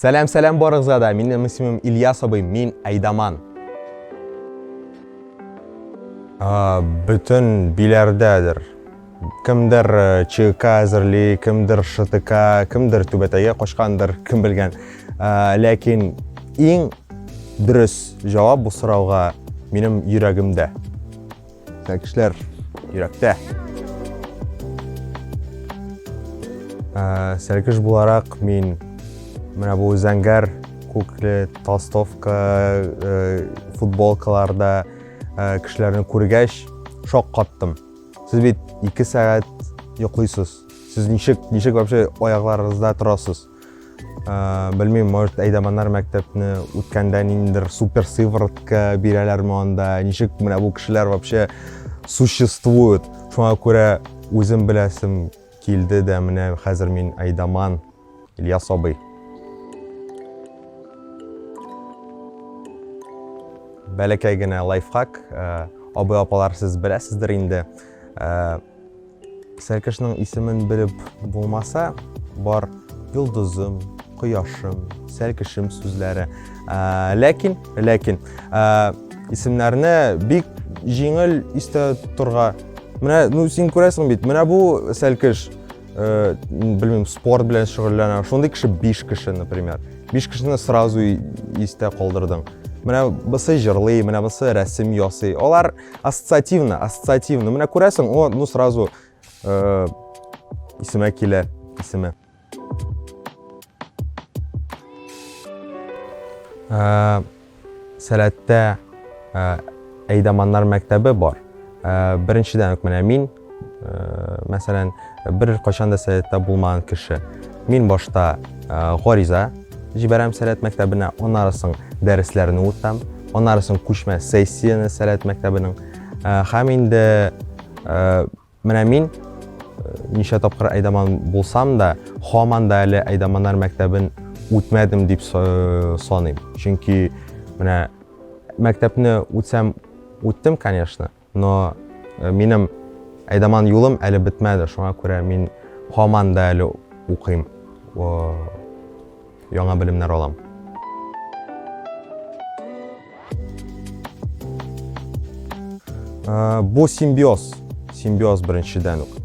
Сәләм, сәләм барыгызга да. Минем исемем Ильяс абый, мин Айдаман. А, бүтән биләрдәдер. Кемдер э, ЧК әзерли, кемдер ШТК, кемдер түбәтәгә качкандыр, кем белгән. А, ләкин иң дөрес җавап бу сорауга минем йөрәгемдә. Тәкешләр йөрәктә. Сәркеш буларак мин менә бу зәңгәр күкле толстовка футболкаларда кешеләрне күргәч шок каттым. Сез бит 2 сәгать йоклыйсыз. Сез ничек ничек вообще аякларыгызда торасыз? Э, белмим может әйдаманнар мәктәпне үткәндә ниндидер супер сыворотка бирәләрме анда ничек менә бу кешеләр вообще существует шуңа күрә үзем беләсем килде дә менә хәзер мин әйдаман ильяс абый бәләкәй генә лайфхак э, абый апалар сез беләсездер инде э, Сәркешнең исемен белеп булмаса, бар йолдызым, кояшым, сәркешем сүзләре. Ләкин, ләкин, исемнәрне бик җиңел истә торга. Менә, ну, син күрәсең бит, менә бу сәркеш, э, белмим, спорт белән шөгыльләнә. Шундый кеше 5 кеше, например. 5 кешене сразу истә калдырдың. Менә бусы җырлый, менә бусы рәсем ясый. Алар ассоциативно ассоциативно менә күрәсең о ну сразу э, исемә килә исеме э, сәләттә э, әйдаманнар мәктәбе бар э, беренчедән үк менә мин Мәсәлән, бер кайчан да сәләттә булмаган кеше. Мин башта гариза җибәрәм сәләт мәктәбенә, аннары соң дәресләрне үтәм, аннары соң күчмә сессияне сәләт мәктәбенең. Һәм инде менә мин ничә тапкыр Айдаман булсам да, һаман да әле Айдаманнар мәктәбен үтмәдем дип саныйм. Чөнки менә мәктәпне үтсәм үттем, конечно. Но минем әйдаман юлым әле бетмәде, шуңа күрә мин һаман да әле укыйм, яңа белемнәр алам. Бу симбиоз, симбиоз беренчедән үк.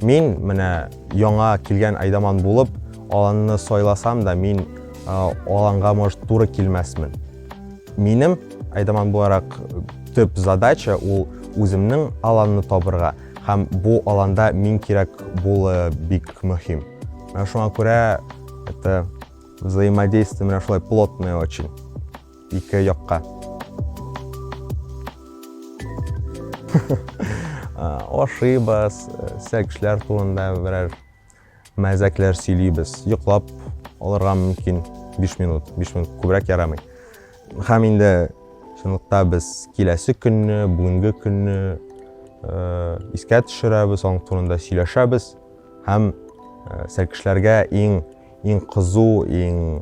Мин менә яңа килгән айдаман булып, аланны сайласам да, мин аланга, может, туры килмәсмен. Минем, айдаман буларак, төп задача ул үземнең аланны табырга һәм бу аланда мин кирәк булы бик мөһим. Менә шуңа күрә это взаимодействие менә шулай плотное очень ике якка. Ошибас, сәкшләр турында берәр Мәзәкләр сөйлибез, йоклап алырга мөмкин биш минут, биш минут күбрәк ярамый. Һәм инде чынлыкта без киләсе көнне, бүгенге көнне искә төшерәбез, аның турында сөйләшәбез һәм сәлкешләргә иң иң кызу, иң